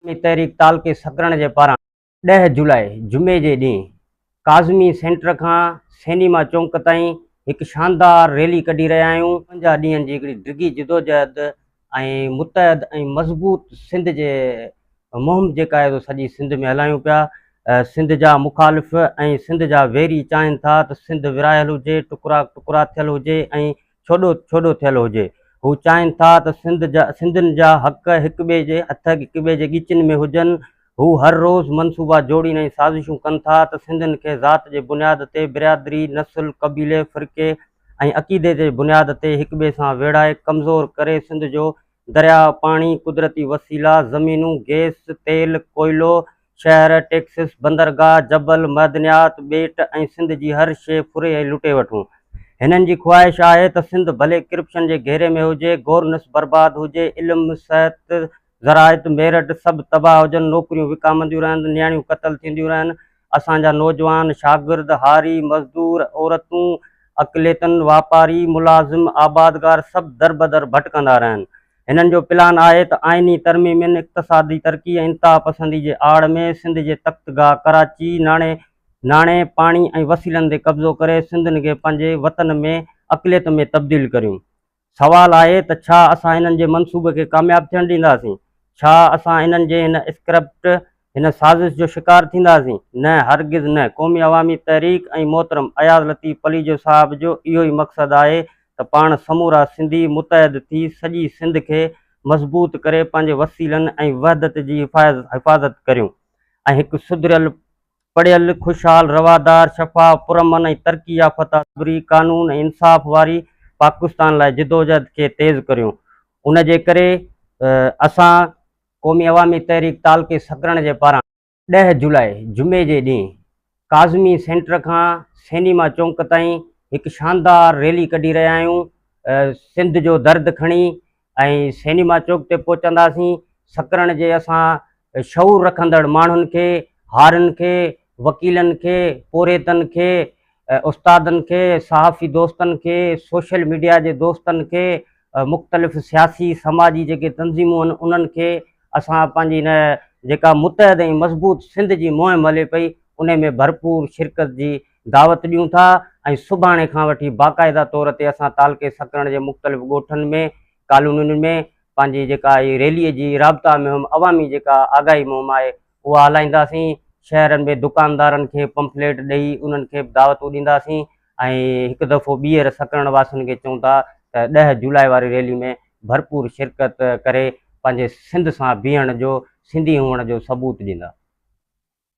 عوامي تحريڪ تعلقي سڪرڻ جي پاران ڏهه جولاء جمعي جي ڏينهن ڪاظمي سينٽر کان سئنيما چونڪ تائين هڪ شاندار ريلي ڪڍي رهيا آهيون، پنجاهه ڏينهن جي هڪڙي ڊگهي جدوجهد ۽ متحد ۽ مضبوط سنڌ جي مهم جيڪا آهي سو سڄي سنڌ ۾ هلايون پيا، سنڌ جا مخالف ۽ سنڌ جا ويري چاهين ٿا ته سنڌ ورهايل هجي، ٽڪرا ٽڪرا ٿيل هجي ۽ ڇوڏو ڇوڏو ٿيل هجي. هو چاهين ٿا ته سنڌ جا سنڌين جا حق هڪ ٻئي جي هٿ هڪ ٻئي جي ڳچين ۾ هجن. هو هر روز منصوبا جوڙين ۽ سازشون ڪن ٿا ته سنڌين کي ذات جي بنياد تي برادري، نسل، قبيلي، فرقي ۽ عقيدي جي بنياد تي هڪ ٻئي سان ويڙهائي ڪمزور ڪري سنڌ جو درياء، پاڻي، قدرتي وسيلا، زمينون، گيس، تيل، ڪوئلو، شهر، ٽيڪسس، بندرگاهه، جبل، معدنيات، ٻيٽ ۽ سنڌ جي هر شيء ڦري ۽ لٽي وٺون. هنن جي خواهش آهي ته سنڌ ڀلي ڪرپشن جي گهيري ۾ هجي، گورنس برباد هجي، علم، صحت، زراعت، ميرٽ سڀ تباهه هجن، نوڪريون وڪامنديون رهن، نياڻيون قتل ٿينديون رهن، اسان جا نوجوان، شاگرد، هاري، مزدور، عورتون، اقليتن، واپاري، ملازم، آبادگار سڀ دربدر ڀٽڪندا رهن. هنن جو پلان آهي ته آئيني ترميمين، اقتصادي ترقي ۽ انتها پسندي جي آڙ ۾ سنڌ جي تخت گاهه ڪراچي، ناڻي، ناڻي، پاڻي ۽ وسيلن تي قبضو ڪري سنڌين کي پنهنجي وطن ۾ اقليت ۾ تبديل ڪريون. سوال آهي ته ڇا اسان هنن جي منصوبي کي ڪامياب ٿيڻ ڏينداسين؟ ڇا اسان هنن جي هن اسڪرپٽ هن سازش جو شڪار ٿينداسين؟ نه هرگز نه، قومي عوامي تحريڪ ۽ محترم اياز لطيف پليجو صاحب جو اهو ئي مقصد آهي ته پاڻ سمورا سنڌي متحد ٿي سڄي سنڌ کي مضبوط ڪري پنهنجي وسيلن ۽ وحدت جي حفاظت ڪريون ۽ هڪ سڌريل، پڙهيل، خوشحال، روادار، شفاف، پرامن ۽ ترقي يافته، سوري، قانون ۽ انصاف واري پاڪستان لاء جدوجهد کي تيز ڪريون. ان جي ڪري اسان قومي عوامي تحريڪ تعلقي سڪرڻ جي پاران ڏهه جولاء جمعي جي ڏينهن ڪاظمي سينٽر کان سينيما چونڪ تائين هڪ شاندار ريلي ڪڍي رهيا آهيون سنڌ جو درد کڻي ۽ سينيما چوڪ تي پهچنداسين سڪرڻ جي اسان شعور رکندڙ ماڻهن کي هارن کي وڪيلن کي، پورهيتن کي، استادن کي، صحافي دوستن کي، سوشل ميڊيا جي دوستن کي، مختلف سياسي سماجي جيڪي تنظيمون آهن انهن کي اسان پنهنجي هن جيڪا متحد ۽ مضبوط سنڌ جي مهم هلي پئي انهي ۾ ڀرپور شرڪت جي دعوت ڏيون ٿا ۽ سڀاڻي کان وٺي باقاعده طور تي اسان تعلقي سڪرڻ جي مختلف ڳوٺن ۾ ڪالونين ۾ پنهنجي جيڪا هي ريلي جي رابطا مهم عوامي جيڪا آگاهي مهم آهي اها هلائينداسين، شهرن ۾ دڪاندارن کي پمفليٽ ڏئي انهن کي به دعوتون ڏينداسين ۽ هڪ دفعو ٻيهر سڪرڻ واسين کي چئون ٿا ته ڏهه جولاء واري ريلي ۾ ڀرپور شرڪت ڪري پنهنجي سنڌ سان بيهڻ جو سنڌي هئڻ جو ثبوت ڏيندا.